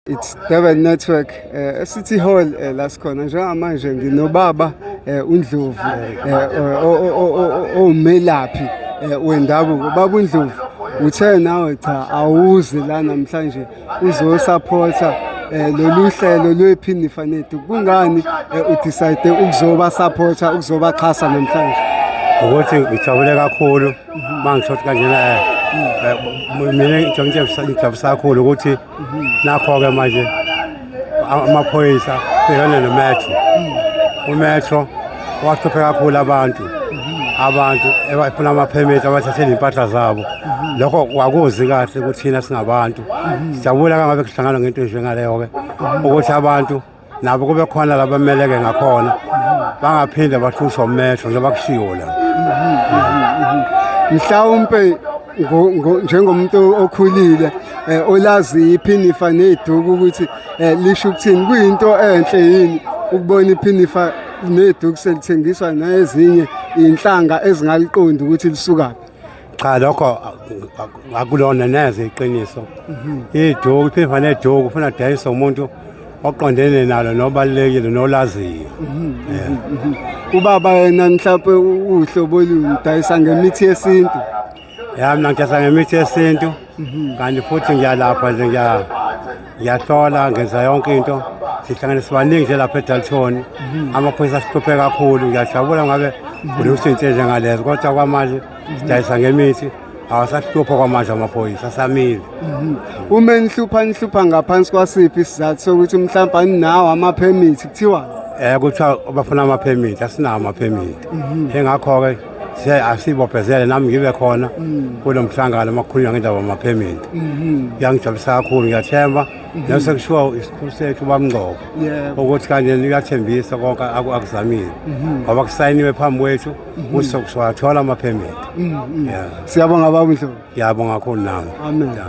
It's Durban Network uh, eh, City Hall uh, eh, la sikhona njengamanje nginobaba uh, uNdlovu owumelaphi wendabuko baba uNdlovu uthe nawe cha awuzi la namhlanje uzosaphotha lolu hlelo lwephini fanethu kungani udecide ukuzoba supporter ukuzobaxhasa namhlanje ukuthi ngijabule kakhulu mangithothi kanjena mina ngijabule kakhulu ukuthi nakho-ke manje amaphoyisa bhekane nometro umetro wahluphe kakhulu abantu abantu ebafuna amaphemithi abathathele impahla zabo lokho kwakuzi kahle ukuthi thina singabantu siyabula kangabe kuhlangana ngento enjengaleyo-ke ukuthi abantu nabo kube khona laba meleke ngakhona bangaphinde bahlushwa umehlo njengoba kushiwo la mhlawumpe njengomuntu okhulile eh, olazi iphinifa neduku ukuthi eh, lisho ukuthini kuyinto enhle yini ukubona iphinifa neduku selithengiswa nezinye inhlanga ezingaliqondi ukuthi lisukaphi cha lokho akulona neze iqiniso mhm. iduku iphimba neduku ufuna dayisa umuntu oqondene nalo nobalulekile nolaziyo mhm, mhm, ubaba yena mhlawumpe uhlobo oludayisa ngemithi yesintu ya mina ngidayisa ngemithi yesintu kanti futhi ngiyalapha nje ngiyahlola ngenza yonke into sihlangene sibaningi nje lapha edalton amaphoyisa sihluphe kakhulu ngiyajabula ngabe kunekushintshe nje ngalezo kodwa kwamanje sidayisa ngemithi awasahlupha kwamanje amaphoyisa asamile mhm. uma nihlupha nihlupha ngaphansi kwasiphi isizathu sokuthi mhlawumbe aninawo amaphemithi kuthiwa um kuthiwa bafuna amaphemithi asinawo amaphemithi mhm. engakho-ke asibophezele nami ngibe khona mhm. kulo mhlangano uma kukhulunywa ngendaba yamaphemithi kuyangijabulisa kakhulu ngiyathemba nase kushiwo isikhulu sethu bamngcobo ukuthi kanje niyathembisa konke akuzamile ngoba kusayiniwe phambi kwethu ukuthi sokusiwathola ama-permit Mm, mm. Yeah. siyabonga baba umhlobo Ngiyabonga kakhulu nami. amen Yeah.